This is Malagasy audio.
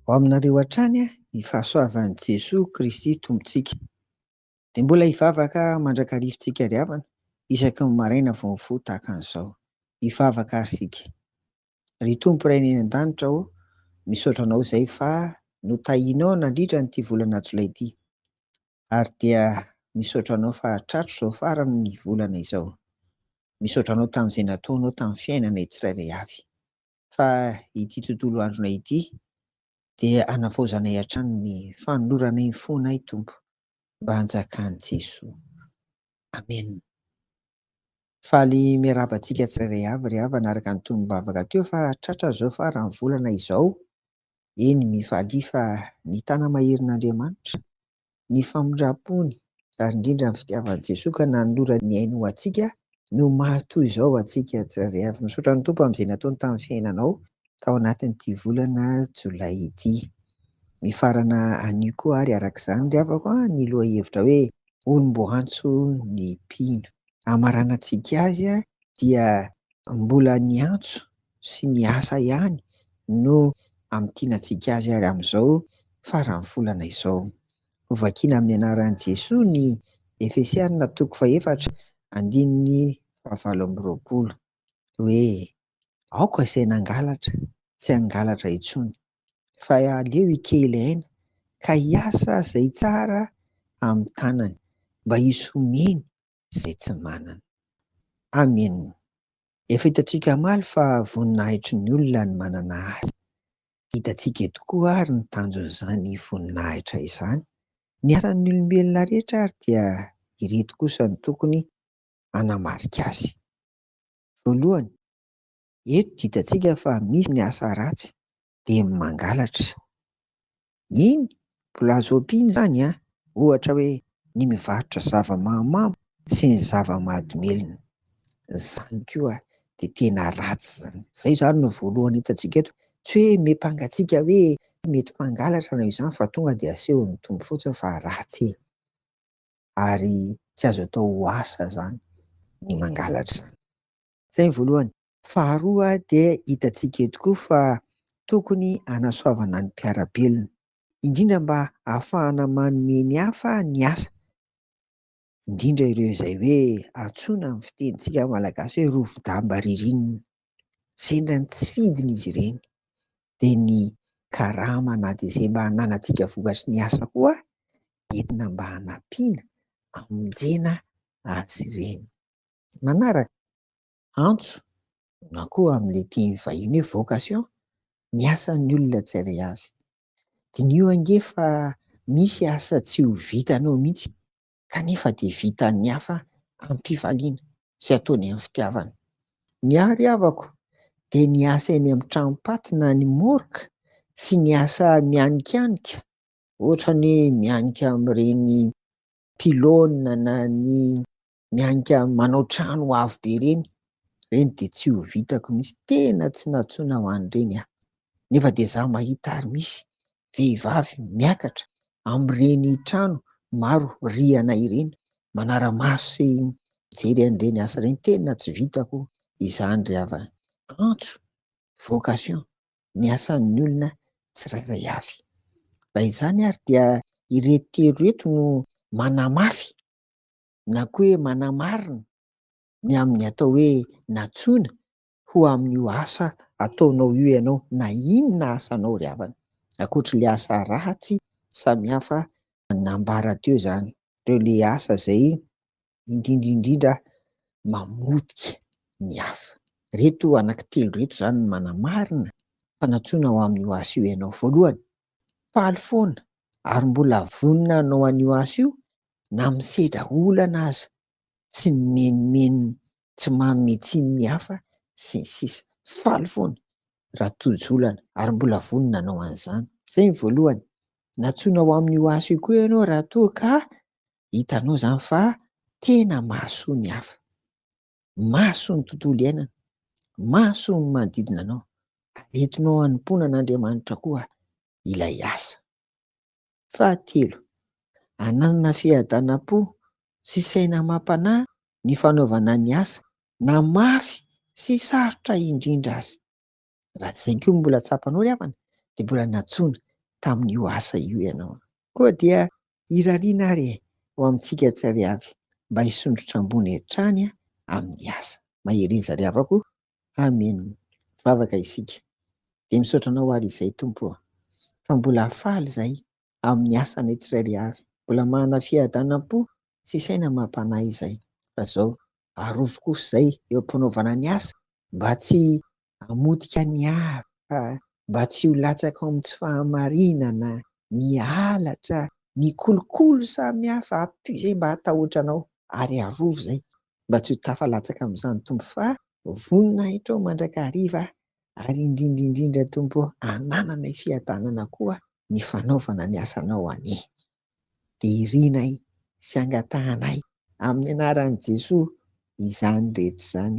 Ho aminareo hatrany ny fahasoavan'i Jesoa Kristy Tompontsika. Dia mbola hivavaka mandrakarivintsika ry havana isaky ny maraina vao mifoha tahaka an'izao. Hivavaka àry isika. Ry Tompo Ray any An-danitra ô, misaotra Anao izay fa notahianao nandritra an'ity volana Jolay ity. Ary dia misaotra Anao fa tratro izao faran'ny volana izao. Misaotra Anao tamin'izay nataonao tamin'ny fiainanay tsirairay avy. Fa ity tontolo andronay ity dia hanavaozanay hatrany ny fanoloranay ny fonay Tompo mba hanjakan'i Jesoa. Amen. Faly miarahaba antsika tsirairay avy ry havana araka ny tonom-bavaka teo fa tratra izao faran'ny volana izao, eny mifalia fa ny tana maherin'Andriamanitra, ny famindram-pony ary indrindra ny fitiavan'i Jesoa ka nanolora ny ainy ho antsika no maha toy izao antsika tsirairay avy. Misaotra ny Tompo amin'izay nataony tamin'ny fiainanao tao anatin'ity volana jolay ity. Mifarana anio koa ary araka izany ry havako an ny lohahevitra hoe olom-boantso ny mpino. Hamaranantsika azy dia mbola ny antso sy ny asa ihany no hamintinantsika azy ary amin'izao faran'ny volana izao. Hovakiana amin'ny anaran'i Jesoa ny Efesiana toko fahefatra andininy fahavalo amby roapolo hoe, Aoka izay nangalatra tsy hangalatra intsony. fa aleo hikely aina ka hiasa izay tsara amin'ny tanany mba hisy homeny izay tsy manana. Amen. Efa hitantsika omaly fa voninahitry ny olona ny manana asa. Hitantsika eto koa ary ny tanjon'izany voninahitra izany. Ny asan'ny olombelona rehetra ary dia ireto kosa no tokony hanamarika azy. Voalohany, Eto hitantsika fa misy ny asa ratsy dia ny mangalatra. Iny Plazop iny izany an, ohatra hoe ny mivarotra zava-mahamamo sy ny zava-mahadomelina. Izany koa dia tena ratsy izany. Izay izany no voalohany hitantsika eto. Tsy hoe miampanga antsika hoe mety mpangalatra ianao izany fa tonga dia asehon'ny Tompo fotsiny fa ratsy e! Ary tsy azo atao ho asa izany ny mangalatra izany. Izay ny voalohany. Faharoa dia hitantsika eto koa fa tokony hanasoavana ny mpiara-belona, indrindra mba hahafahana manome ny hafa ny asa, indrindra ireo izay hoe antsoina amin'ny fitenintsika malagasy hoe rovi-damba ririnina. Sendra ny tsy fidiny izy ireny dia ny karama na dia izay mba hananantsika vokatry ny asa koa entina mba hanampiana, hamonjena azy ireny. manaraka, antso na koa amin'ilay teny vahiny hoe vocation ny asan'ny olona tsirairay avy. Diniho ange fa misy asa tsy ho vitanao mihitsy kanefa dia vitan'ny hafa amim-pifaliana sy ataony amin'ny fitiavana. Ny ahy ry havako dia ny asa eny amin'ny tranom-paty na ny morgue sy ny asa mianikanika ohatra ny hoe mianika amin'ireny pylône na ny miainika manao trano avo be ireny, ireny dia tsy ho vitako mihitsy, tena tsy nantsoina ho an'ireny aho, nefa dia izaho mahita ary misy vehivavy miakatra amin'ireny trano maro rihana ireny, manara-maso sy mijery an'ireny asa ireny, tena tsy vitako izany ry havana, antso, vocation, ny asan'ny olona tsirairay avy. Raha izany ary dia ireto telo ireto no manamafy na koa hoe manamarina ny amin'ny atao hoe nantsoina ho amin'io asa ataonao io ianao na inona asanao ry havana, ankoatr'ilay asa ratsy samihafa nambara teo izany, ireo ilay asa izay indrindra indrindra mamotika ny hafa. Ireto anankitelo ireto izany no manamarina fa nantsoina ho amin'io asa io ianao. Voalohany, faly foana ary mbola vonona hanao an'io asa io na misedra olana aza, tsy mimenomenona, tsy manome tsiny ny hafa, sy ny sisa Faly foana Ratorijolana ary mbola vonona nanao an'izany. Izay ny voalohany. Nantsoina ho amin'io asa io koa ianao raha toa ka hitanao izany fa tena mahasoa ny hafa, mahasoa ny tontolo iainana, mahasoa ny manodidina anao ary entinao hanompoana an'Andriamanitra koa ilay asa. Fahatelo, ananana fiadanam-po sy saina amam-panahy ny fanaovana ny asa na mafy sy sarotra indrindra aza. Raha tsy izay koa no mbola tsapanao ry havana dia mbola nantsoina tamin'io asa io ianao. Koa dia irariana ary e ho amintsika tsary avy mba hisondrotra ambony hatrany amin'ny asa. Mahereza ry havako o! Amen vavaka isika de misaotra anao ary izay Tompo ô fa mbola faly izay amin'ny asanay tsirairay avy mbola manana fiadanam-po sy saina mampanahy izay fa zao arovy kosa izay eo am-panaovana ny asa mba tsy hamotika ny hafa mba tsy ho latsaka ao amin'ny tsy fahamarinana ny halatra ny kolikoly samy hafa ampio izay mba hatahotra anao ary arovy izay mba tsy ho tafalatsaka amin'izany Tompo fa vonona ahy hatrao mandrakariva ary indrindra indrindra Tompo ô anananay fiadanana koa ny fanaovana ny asanao anie dia irinay sy angatahanay amin'ny anaran'i Jesoa izany rehetra izany